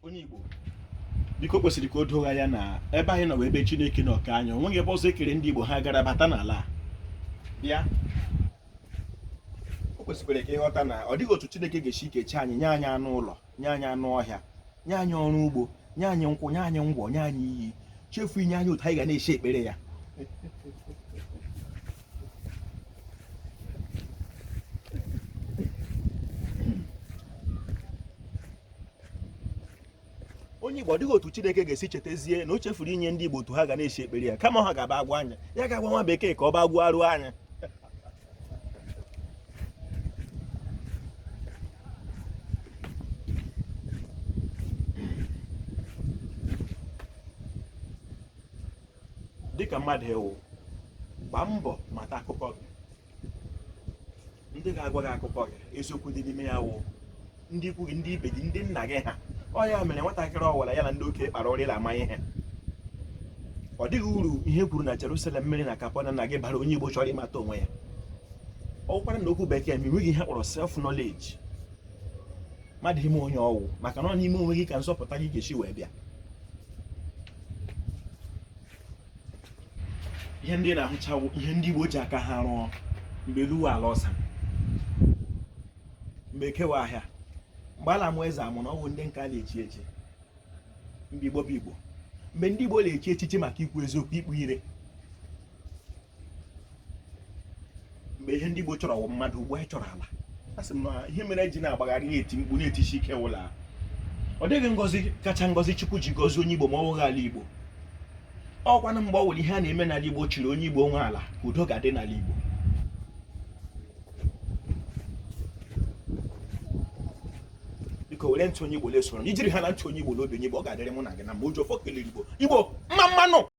onye Igbo biko kwesịrị ka o doo gị anya na ebe anyị nọ wụ ebe Chineke nọ kee anyị o nweghị ebe ọzọ e kere ndị Igbo ha gara bata n'ala bịa o kwesịkwara ka ị ghọta na ọ dịghị otu Chineke ga-esi kecha anyị nye anyị anụ ụlọ nye anyị anụ ọhịa nye anyị ọrụ ugbo nye anyị nkwụ nye anyị ngwọ nye anyị iyi chefu inye anyị otu anyị ga na-esi ekpere ya onye Igbo ọ dịghị otu Chineke ga-esi chetazie na o chefuru inye ndị Igbo otu ha ga na-esi ekpere ya kama ha ga-abịa gwa anyị ya ga-agwa nwa bekee ka ọ bịa gwaara anyị dịka mmadụ ị wụ gbaa mbọ mata akụkọ gị ndị ga-agwa gị akụkọ gị eziokwu dị n'ime ya wụ ndị ikwu gị ndị ibe gị ndị nna gị ha ọ ya mere nwatakịrị ọ wụla ya na ndị okenye kpara ụrị la-ama ihe ọ dịghị uru ihe e kwuru na Jerusalem mere na Kapanaụm bara onye Igbo chọrọ ịmata onwe ya ọ wụkwara na okwu bekee ma enweghị ihe a kpọrọ self knowledge mmadụ ịma onye ọ wụ maka na ọ n'ịma onwe gị ka nzọpụta gị ga-esi wee bịa ihe ndị ahụcha wụ ihe ndị Igbo ji aka ha rụọ mgbe elu wụ ala ọsa mgbe Eke wụ ahịa mgbe a la-amụ eze amụ na ọ bụ ndị nke a na-echi echi mgbe Igbo bụ Igbo mgbe ndị Igbo na-echi echichi maka ikwu eziokwu ikpu ire mgbe ihe ndị Igbo chọrọ wụ mmadụ ugbu a anyị chọrọ ala a sị m na ihe mere e ji na-agbagharị na-eti mkpu na-etisi ike wụ la ọ dịghị ngọzi kacha ngọzi Chukwu ji gọzi onye Igbo ma ọ wụghị ala Igbo ọ kwanụ mgbe ọ wụla ihe a na-eme n'ala Igbo yiri onye Igbo nwe ala ka udo ga-adị n'ala Igbo biko were ntụ onye Igbo lesoro ijiri ha na ntụ onye Igbo n'obi onye Igbo ọ ga-adịrị mụ na gị mma mgbe e ji ọfọ kelere Igbo Igbo mma mma nụ